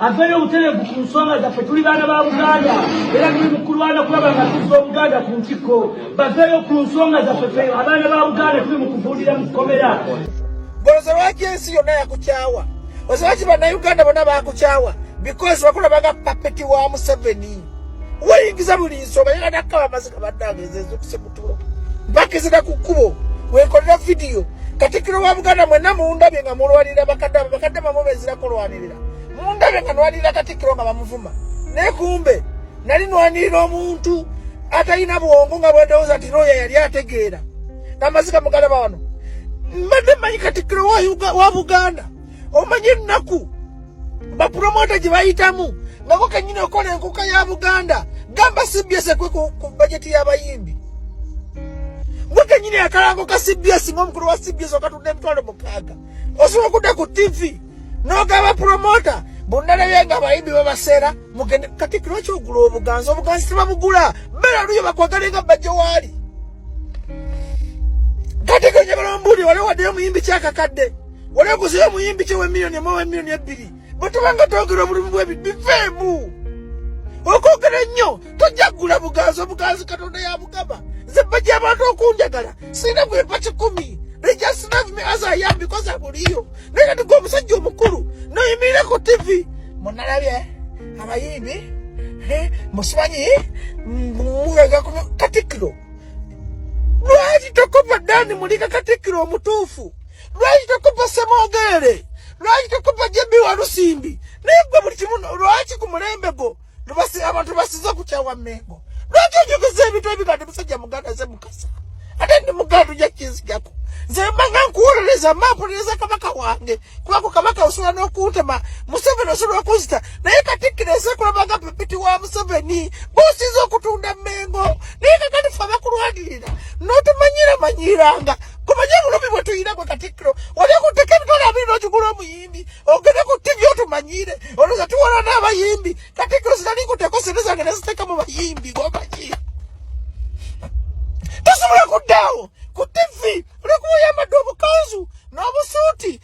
aveeyo obutereevu ku nsonga zaffe tuli baana ba buganda era tuli mukulwana kulaba nga tuzza obuganda ku ntikko baveeyo ku nsonga zaffe fe abaana ba buganda tuli mu kuvuulira mu kkomera goloza lwaki ensi yonna yakukyawa oza lwaki bannayuganda bonna bakukyawa because wakulabaga papeti wa museveni weyingiza buli nsonga yera nakkaba amaziga bannange ezezokusimu bakizira ku kkubo wekolera vidiyo katikiro wa buganda mwena mundabye nga mulwanirira bakadde abo bakadde bamu bezira kulwanirira mundabye nga nwanirira katikiro nga bamuvuma naye kumbe nali nwanirira omuntu atalina bwongo nga bwendowooza nti looya yali ategeera amaziga mugalaba wano mbadde manyi katikiro wa buganda omanyi ennaku bapromota gye bayitamu nako kenyini okola enkuka ya buganda gamba cbs ekwe ku bajeti y'abayimbi gwe kenyini akalango ka cbs ngaomukulu wa cbs okatunda emitwalo mukaaga osobola okudda ku tv nogaba promota bonnalabye nga abayimbi babaseera mugende kati lwaki ogula obuganzi obuganzi tebabugula bera luyo bakwagale nga bajja waali kati genye balombuuli waliwo waddeyo omuyimbi kyakakadde oleguze omuyimbi kye we million emu we million ebbiri bwe tubanga twogera obulumi bwebi bifeemu okwogera ennyo tojja kugula buganzi obuganzi katonda yabugaba nze bajja abantu okunjagala sirina bwempa kikumi they just love me as i am because abuliyo naye kati gwe omusajja omukulu noyimirira ku tv munalabye abayimbi musimanyi mugaga katikiro lwaki tokopa dani mulika katikiro omutuufu lwaki tokuba semogere lwaki tokuba jebi walusimbi naye gwe buli kimu lwaki ku mulembe gwo abantu basiza kukyawa mengo lwaki ojogeza ebintu ebigande musajja muganda ze mukasa ate ndi muganda oja kinzijako nze mbanga nkuwolereza mampuliriza kabaka wange kubako kabaka osobola n'okuntema museveni osobola okuzita naye katikkiro ensi ekulabanga pepiti wa museveni bosiza okutunda mengo naye kakati fe abakulwanirira notumanyira manyiranga kumanye obulumi bwe tuyina gwe katikkiro wali okutteka emitwalo abiri n'okigula omuyimbi ogende ku ttivi otumanyiire olowooza tuwala n'abayimbi katikkiro sinali kuteeko sente zange ne ziteeka mu bayimbi gomanyi tosobola kuddaawo ku ttivi olwokuba oyambadde obukanzu n'obusuuti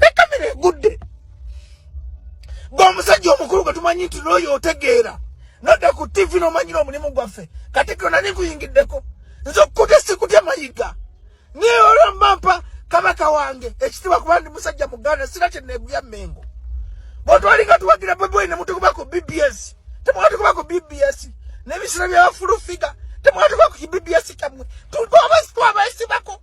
ekamera egudde gwe omusajja omukulu gwe tumanyi nti nooyo otegeera nodda ku tivi nomanyira omulimu gwaffe kati gona nikuyingiddeko nze okukute sikutya mayiga naye olwamampa kabaka wange ekitiibwa kuba ndi musajja muganda sira kyeneguya mengo bwetwali nga tuwagira beboyi nemutukuba ku bbs temwatukuba ku bbs nebisira byabafulufiga temwatukuba ku bbs kyamwe twabasibako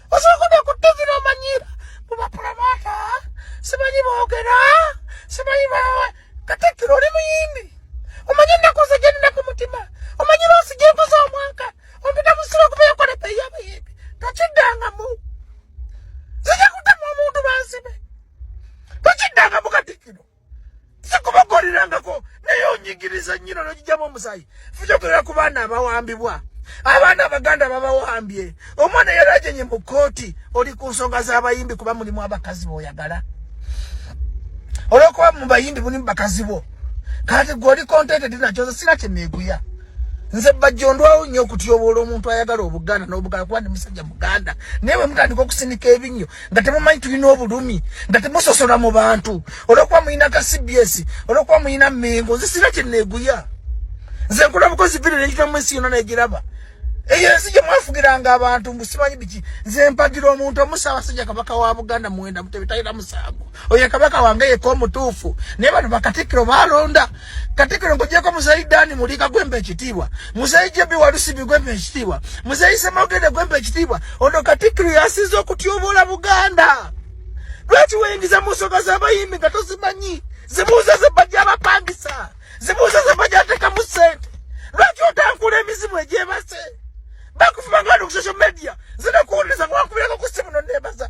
osobola ku ttivi n'omanyiira mu bapulomoota simanyi boogera simanyi bawe katikkiro oli muyimbi omanyi ennaku ze gyenina ku mutima omanyi loosi gyenkoza omwaka ompita mu siro okuba yakola ebeeyi abayimbi tokiddangamu zija kutema omuntu banzibe tokiddangamu katikkiro sikubakolerangako naye onyigiriza nyino nogijamu omusayi fujogerera ku baana abawambibwa abaana abaganda babawambye omwana yalajenye mu kooti oli ku nsonga z'abayimbi kuba mulimu abakazi boyagala olwokuba mubayimbi mulimu bakazi bo kati gwe oli contented nakyo nze sina kyeneeguya nze bajjo ndwawo nnyo okutyobola omuntu ayagala obuganda n'obugala kuba ndi musajja muganda naye bwe mutandika okusinika ebinnyo nga temumanyi tulina obulumi nga temusosola mu bantu olwokuba mulina ka cbs olwokuba mulina mengo nze sina kyeneeguya nze nkola bukozi vidio nekitamu ensi yona negiraba eyo ensi gye mwafugiranga abantu mbu simanyi biki nze mpagira omuntu omusaabasajja kabaka wa buganda muwenda mutebe talina musango oyo kabaka wange yeka omutuufu naye bano bakatikkiro balonda Katikiro ngojeko muzeyi Dani Mulika gwembe ekitiibwa muzeyi JB Walusibi gwembe ekitiibwa muzeyi Ssemogede gwembe ekitiibwa ono Katikiro yasize okutyoboola Buganda lwaki weyingiza mu nsonga z'abayimbi nga tozimanyi zibuuza ze bajja abapangisa zibuuza ze bajja atekamu ssente lwaki otankula emizimu egyebase bakufuba nga ali ku social media zinakuwuliriza nga wakubirako ku ssimu no neebaza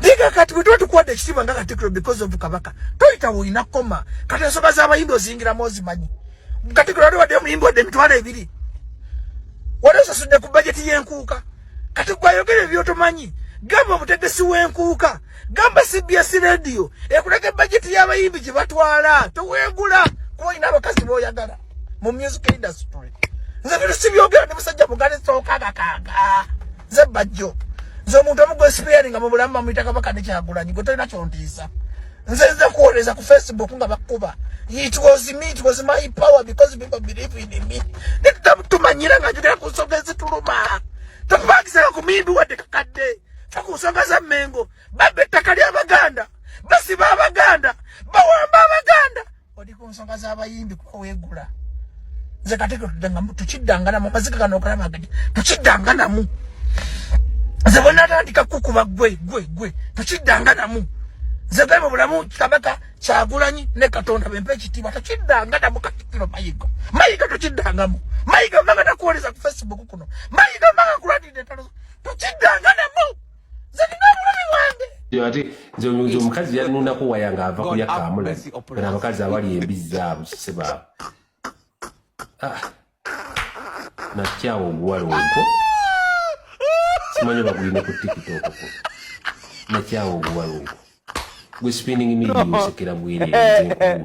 Diga kati bwe tuba tukuwadde ekitiibwa nga katikkiro because of kabaka toyita woolina koma kati ensonga z'abayimbi ozingiramu ozimanyi katikkiro wali waddeyo omuyimbi wadde emitwalo ebiri wali osasudde ku bajeti y'enkuuka kati gwayogera ebyotomanyi gamba omutegesi w'enkuuka gamba cbs radio ekulaga ebajeti y'abayimbi gye batwala toweegula kuba olina abakazi b'oyagala mu music industry nze bino sibyogera ndi musajja mugali sokagakaga nze bajjo nze omuntu omu gwesipeyaringa mu bulamu bamuyita kabaka nekyagulanyi gwe tolina kyontiisa nze nze kuwoleza ku facebook nga bakuba it was me it was my power because people believe in me netutamtumanyira nga njogera ku nsonga ezituluma tokubagisanga ku mimbi wadde kakadde fa ku nsonga za mengo babba ettaka ly'abaganda basiba abaganda bawamba abaganda oli ku nsonga z'abayimbi kuba weegula nze kati tudangamu tukiddanganamu amazika gano okalaba gadi tukiddanganamu nze bwe natandika kukuba gwe gwe gwe tukiddanganamu nze gwe mu bulamu kabaka kyagulanyi ne katonda bempa ekitiibwa tukiddanganamu katikiro mayiga mayiga tukiddangamu mayiga mbanga nakuwoleza ku facebook kuno mayiga mbanga nkuladidde entalo tukiddanganamu ate nze omukazi yanunako waya nga ava kulya kamula kana abakazi abali embizzi abo sebaabo ah. nakyawa oguwala ogwo simanyi bagulina ku tikitokoko nakyawa oguwala ogwo gwe spinning midi osekera bwereere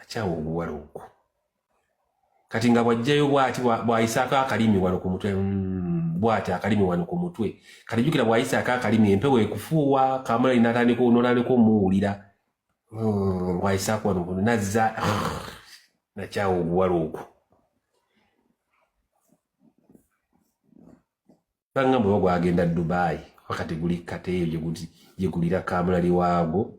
akyawa obuwala okwo kati nga bwajjayo bwati bwayisaako akalimi wano ku mutwe mm, bwati akalimi wano ku mutwe kati jukira bwayisaako akalimi empewo ekufuuwa kamulali natandika notandika omuwulira mm, bwayisaako wano kuno nazza nakyawa obuwala okwo banga mwe bagwagenda dubai wakati guli kateeyo gyegulira kamulali waagwo